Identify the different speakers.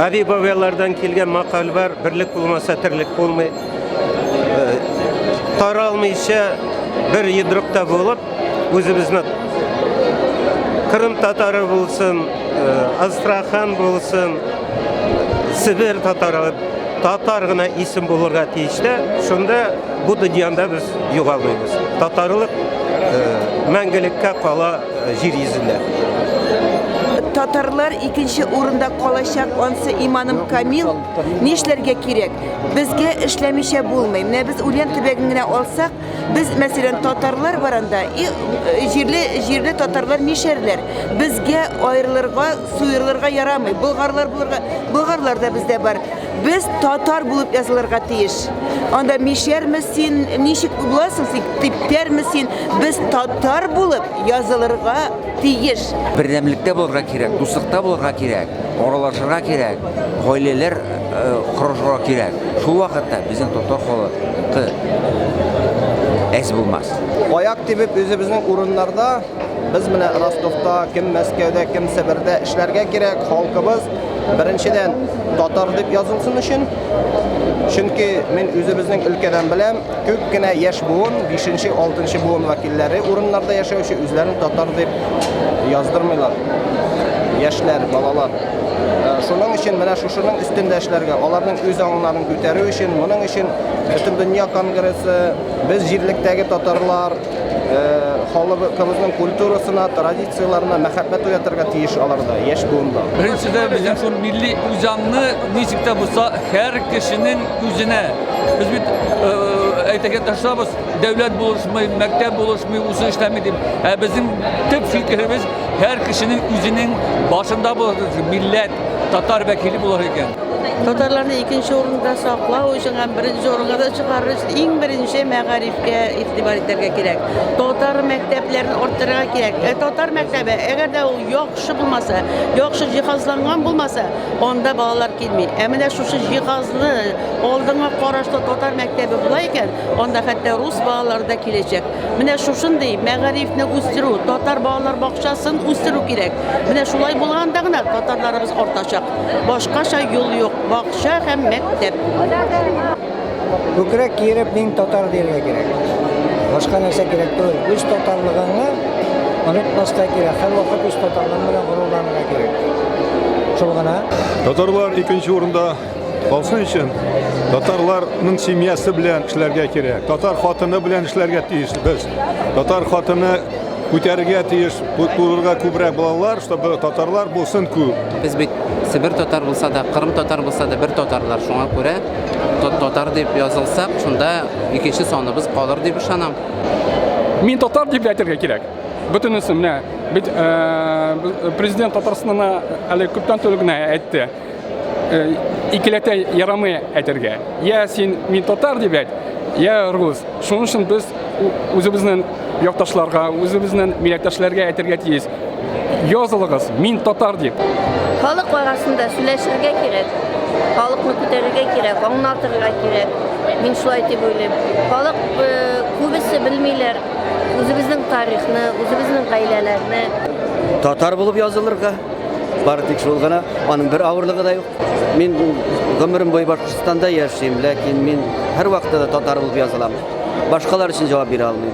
Speaker 1: Әби бабайлардан килгән макал бар, берлек булмаса терлек булмый. Э, таралмыйча бер йодрыкта булып, үзебезне Кырым татары булсын, э, Астрахан булсын, Сибир татары татар гына исем булырга тиеш тә, шунда бу дөньяда без югалмыйбыз. Татарлык э, мәңгелеккә кала Җир йөзендә. Татарлар
Speaker 2: икенче урында калачак, ансы иманым камил. Нишләргә кирәк? Безгә эшләмичә булмый. Менә без Ульян төбәген генә алсак, без, мәсәлән, татарлар баранда, и, э, җирле, җирле татарлар нишәрләр? Безгә аерылырга, суерылырга ярамый. Болгарлар булырга, болгарлар да бездә бар. Без татар булып язылырга тиеш. Анда мишәрме син, ничек буласың син, типтәрме син? Без татар булып язылырга тиеш. Бердәмлектә
Speaker 3: булырга кирәк, дуслыкта булырга кирәк, аралашырга кирәк, гаиләләр корышырга э, кирәк. Шул вакытта безнең татар халкы әз булмас. Аяк тибеп
Speaker 4: үзебезнең урыннарда Без менә Ростовта, кем Мәскәүдә, кем Себердә эшләргә кирәк, халкыбыз беренчедән татар дип язылсын өчен. Чөнки мин үзебезнең өлкәдән беләм, күп кенә яшь буын, 5нче, 6нчы буын вәкилләре урыннарда яшәүче үзләрен татар дип яздырмыйлар. Яшьләр, балалар. Э, шуның өчен менә шушының өстендә эшләргә, аларның үз аңнарын күтәрү өчен, моның өчен Бөтендөнья конгрессы, без җирлектәге татарлар, халыкыбызның культурасына, традицияләренә мәхәббәт уятырга тиеш аларда, яшь буында. Беренчедән, безнең шул
Speaker 5: милли үзаңны ничек тә булса һәр кешенең үзенә. Без бит әйтергә тырышабыз, дәүләт булышмый, мәктәп булышмый, үзе эшләми дип. Ә безнең төп фикеребез һәр кешенең үзенең башында булыр, милләт, татар вәкиле булыр икән. Татарларны
Speaker 6: икенче урында саклау өчен һәм беренче урынга да чыгарыр өчен иң беренче мәгариф мәктәпкә игътибар итәргә кирәк. Татар мәктәпләрен арттырырга кирәк. Ә татар мәктәбе, әгәр дә ул яхшы булмаса, яхшы җиһазланган булмаса, анда балалар килми. Ә менә шушы җиһазлы, алдыңа карашлы татар мәктәбе була икән, анда хәтта рус балалары да киләчәк. Менә шушындый мәгарифне үстерү, татар балалар бакчасын үстерү кирәк. Менә шулай булганда гына татарларыбыз артачак. Башкача юл юк. Бакча һәм мәктәп.
Speaker 7: Күкрәк киереп мин татар дияргә кирәк. Башка нәрсә кирәк түгел. Үз татарлыгыңны онытмаска кирәк. Һәрвакыт үз татарлыгың белән горурланырга кирәк. Шул гына. Татарлар икенче
Speaker 8: урында калсын өчен татарларның семьясы белән эшләргә кирәк. Татар хатыны белән эшләргә тиеш без. Татар хатыны күтәрергә тиеш, турырга күбрәк балалар, чтобы татарлар булсын күп. Без бит Себер
Speaker 3: татар булса да, Кырым татар булса да бер татарлар. Шуңа күрә Татар дип язылсак, шунда икенче саныбыз калыр дип ышанам. Мин
Speaker 9: татар дип әйтергә кирәк. Бөтенесе менә бит э, президент Татарстанына әле күптән түгел генә әйтте. Э, икеләтә ярамый әйтергә. Я син мин татар дип әйт, я рус. Шуның өчен без үзебезнең Якташларга, үзебезнең милләттәшләргә әйтергә тиеш. Язылыгыз, мин татар дип. Халык
Speaker 10: арасында сөйләшергә кирәк. Халыкны күтәрергә кирәк, аңлатырга кирәк. Мин шулай дип уйлыйм. Халык э, күбесе белмиләр үзебезнең тарихны, үзебезнең гаиләләрне. Татар
Speaker 4: булып язылырга, бары тик шул гына, аның бер авырлыгы да юк. Мин гомерем буе Башкортстанда яшим, ләкин мин һәрвакытта да татар булып язылам. Башкалар өчен җавап бирә алмыйм.